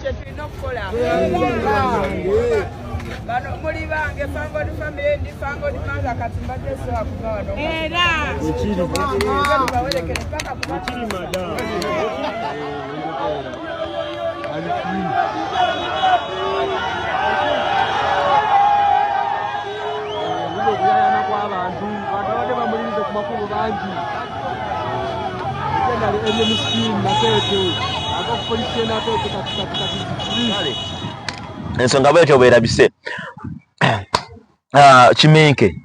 kyetulina okukola bano muli bange fangod family ndi fangod manga kati mbadde soa kuva wano era bawerekere paka kuba abantu abantu abadde bamulirize ku makubo bangi ensonga bwetyo bwerabise ah, kimenke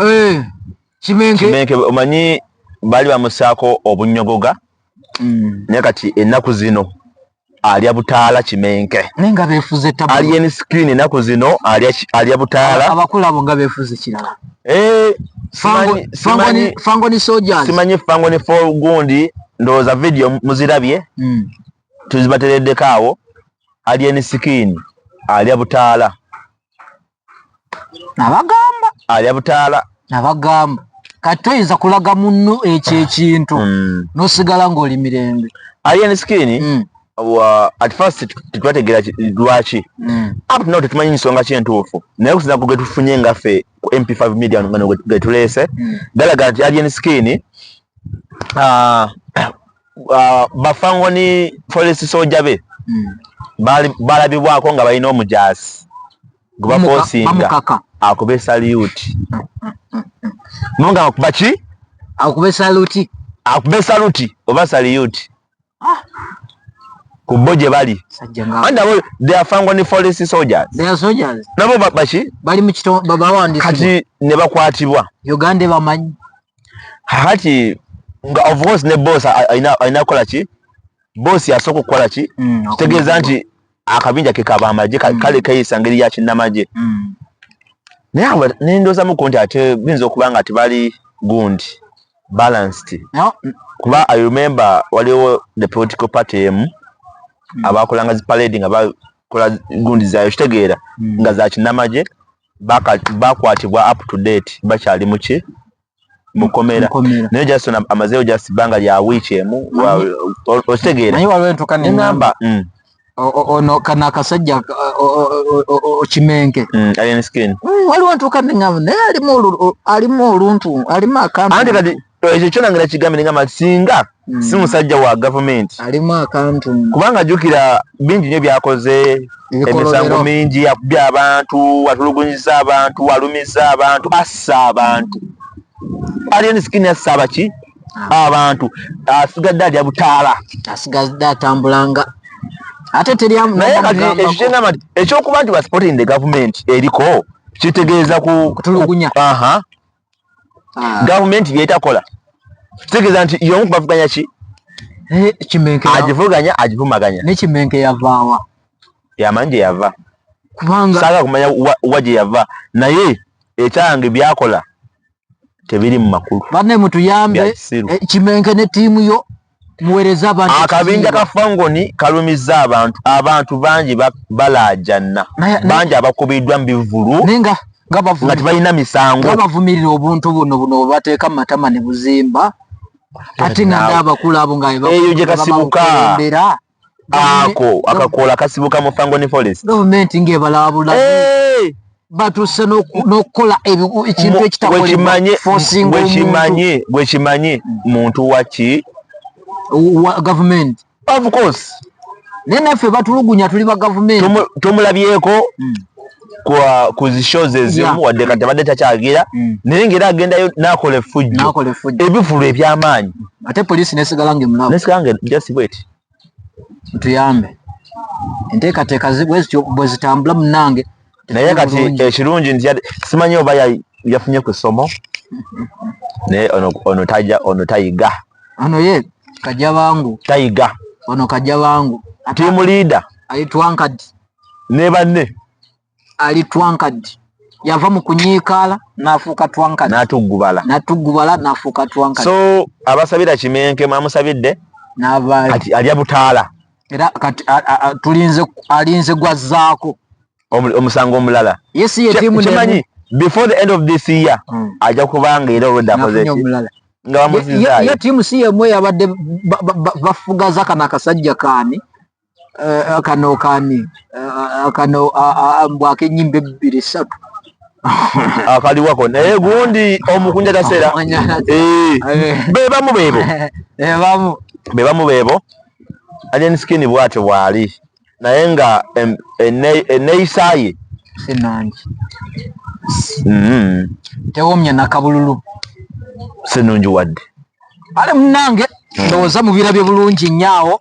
eh, kimenke omanyi baali bamusaako obunyogoga mm. naye kati ennaku zino alya butaala kimenke naye nga befuze tabu alien skin enaku zino alya alya butaala abakula abo nga befuze kirala eh fango fango ni fango ni soldiers simanyi fango ni for gundi ndoza video muzirabye mm. tuzibateredde kaawo alien skin alya butaala nabagamba alya butaala nabagamba kati toyinza kulaga munno ekyo ah. ekintu mm. nosigala ngaoli mirembe alien skin mm. at first tetwategera lwaki mm. up now tetumanyi nsonga kyentuufu naye kusinza ku getufunye ngaffe ku mp5 media getuleese galaga nti alien skin ah, uh, bafangoni police soja be hmm. balabibwako nga balina omujaasi gwebakosinga akube saluti munga akuba ki akube saluti akube saluti oba saluti ah. kubo gye bali nabo baki kati ne bakwatibwa uganda ebamanyi haki nga of course ne boss alina alina kola ki boss yasoko okukola ki mm, kitegeeza nti akabinja ke kaba amaje mm. kale kayisa ngeri ya kinnamagye mm. naye awo ne ndoozamuko nti ate biyinza okuba nga tebali gundi balanced no. kuba i remember waliwo the political party emu mm. abakolanga zi parade nga bakola gundi zayo kitegeera mm. nga za kinnamagye bakwatibwa up to date bakyali muki mukomera naye just amazeyo just banga lya week emu okitegeera naye waliwo entuka nengamba mm. ono kana akasajja okimenke mm, mm, waliwo ntuka nengamba naye alimu oluntu alimu akantu ekyo kyona ngera kigambe nengamba singa mm. si musajja wa gavumenti alimu akantu kubanga jukira bingi nyo byakoze emisango mingi yakubya abantu atulugunyiza abantu alumiza abantu assa abantu alien skin assa abaki ah. abantu asigadde alya butaala asigadde atambulanga ate teryamugamba ekyokuba nti basupporting the government eriko kitegeeza kutulugunya aha ah. gavumenti byetakola kitegeeza nti yomu kubavuganya ki agivuganya agivumaganya nekimenke yavaawa yamanyi gye yava kubanga saaga kumanya wa gye yava naye ekyange byakola tebiri mu makulu banne mutuyambe eh, kimenke ne tiimu yo muwereza abantu akabinja ka fangoni kalumizza abantu abantu bangi balaajanna bangi abakubiddwa mu bivulu nga tebalina misango nga bavumirira obuntu buno buno bwe bateeka mu matama ne buzimba ate nga nga abakulu abo nga eyo gye kasibuka ako akakoola kasibuka mu fangoni forest gavumenti ng'ebalabula eh! batuuse n'okukola ekintu ekitakolebwekimanye bwekimanye muntu waki gavumenti of course naye naffe batulugunya tuli ba gavumenti tumulabyeko hmm. ku zi shows ezimu wadde kati abadde takyagira mm. naye ngaera agendayo nakola effujjo ebivulu ebyamaanyi ate poliisi nesigala nga emulanesigala nga just wet tuyambe enteekateeka bwezityo bwe zitambula munange naye kati ekirungi nti simanyi oba yafunye ku ssomo naye ono taja ono tayiga ono ye kajja bangu tayiga ono kajja bangu tiimu liida ayitwankadi ne banne ali twankadi yava mu kunyiikaala n'afuuka twankadi n'atuggubala n'atuggubala n'afuuka twankadi so abasabira kimenke mwamusabidde n'avaayo alya butaala era kati tulinze alinze gwazzaako omusango omulala yesi ye tiimu kimanyi before the end of this year mm. ajja kubanga era olwedde akoze ki nga bamuzizayo ye tiimu si yemu eyabadde bafugaza kana akasajja kaani Eh, kano kani eh, kano mbwa akenyimba ebbiri ssatu akaliwako ah, naye gundi omukunja tasera eh, bebamu bebo bebamu bebamu bebo alien skin bwatyo bwali naye nga eneyisaye sinangi mm-hmm. tewomya nakabululu sinungi wadde ale munange ndowooza mubirabye bulungi nyaawo